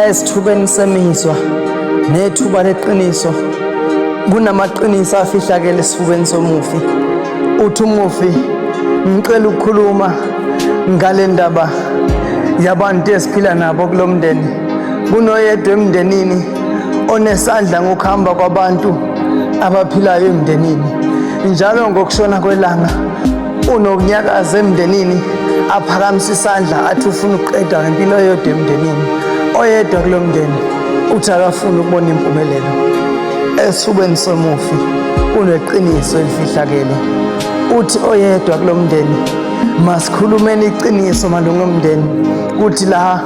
esithubeni semizwa nethuba leqiniso kunamaqiniso afihlakele esifubeni somufi uthi umufi ngicela ukukhuluma ngale ndaba yabantu esiphila nabo kulo mndeni kunoyedwa emndenini onesandla ngokuhamba kwabantu abaphilayo emndenini njalo ngokushona kwelanga unokunyakaza emndenini aphakamisa isandla athi ufuna ukuqeda ngempilo eyodwa emndenini oyedwa kulo mndeni uthi akafuni ukubona impumelelo esifubeni somufi kuneqiniso elifihlakele uthi oyedwa kulo mndeni masikhulumeni iqiniso malunga omndeni kuthi la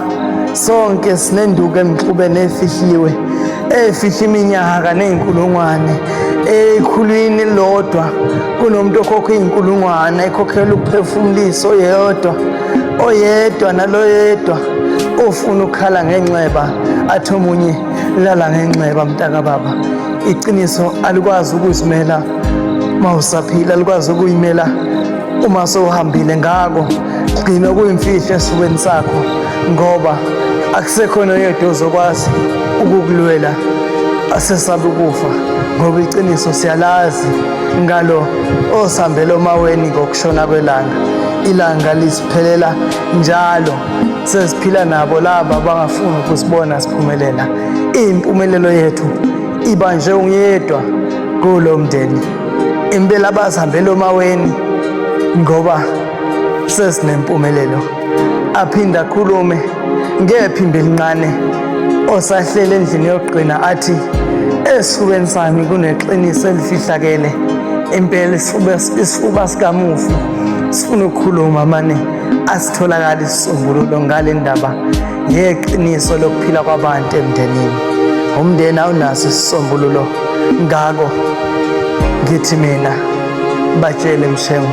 sonke sinenduku emxubene efihliwe efihla iminyaka ney'nkulungwane ekhulwini lodwa kunomuntu okhokha iy'nkulungwane ekhokhela ukuphefumulisa oyedwa oyedwa naloyedwa ofuna ukukhala ngenxeba athi omunye lala ngenxeba mntakababa iqiniso alikwazi ukuzimela uma usaphila alikwazi ukuyimela uma sowuhambile ngako Gcina kuyimfihlo esifubeni sakho ngoba akusekhona oyedwa ozokwazi ukukulwela asesabe ukufa ngoba iqiniso siyalazi ngalo osambela omaweni ngokushona kwelanga ilanga lisiphelela njalo sesiphila nabo laba abangafuni ukusibona siphumelela impumelelo yethu iba nje ungiyedwa kulo mndeni impela bazihambela omaweni ngoba sesinempumelelo aphinde akhulume ngephimbo elincane osahlele endlini yokugcina athi esifubeni sami kuneqiniso elifihlakele impela isifuba isifuba sikamufi sifuna ukukhuluma mane asitholakali isisombululo ngale ndaba ngeqiniso lokuphila kwabantu emndenini umndeni awunaso isisombululo ngako ngithi mina batshele mshengu